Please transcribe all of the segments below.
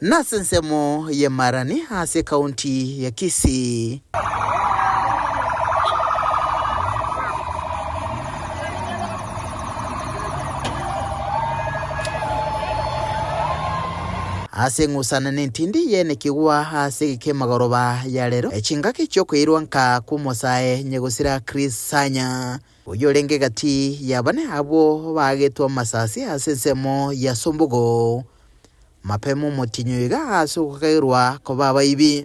Nase ensemo ye Marani ase ekaunti ya Kisii. Ase eng'usana nentindi y'ene kigwa ase egeka emagoroba ya rero, chingaki chiokoirwa nka kw'omosae nyegosira Chris Sanya, oyorenge egati ya bane abwo baagetwe amasasi ase ensemo ya Sombogo. Mapema omotienyi oiga ase ogokairwa koba abaibi.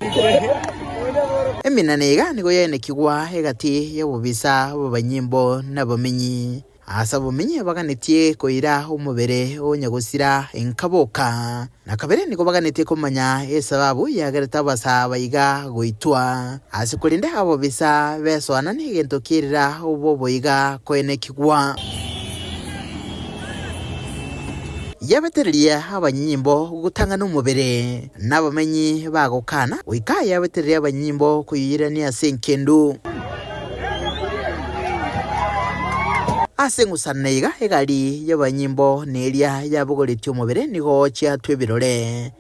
Eminana iga nigo yaenekigwa egati y'abobisa b'abanyimbo na abamenyi. Ase abamenyi baganetie koira omobere o Nyagosira enka boka, na kabere nigo baganetie komanya esababu yagerete abasa baiga goitwa. Ase korende abobisa besoana negento kerira oboboiga koenekigwa. Yabetereria abanyinyimbo gotang'ana omobere, na abamenyi bagokana, goika yabetereria abanyinyimbo koyoirania ase engendu. Ase eng'usanano eye iga egari y'abanyinyimbo neria yabogoretie omobere nigo chiatwa ebirore.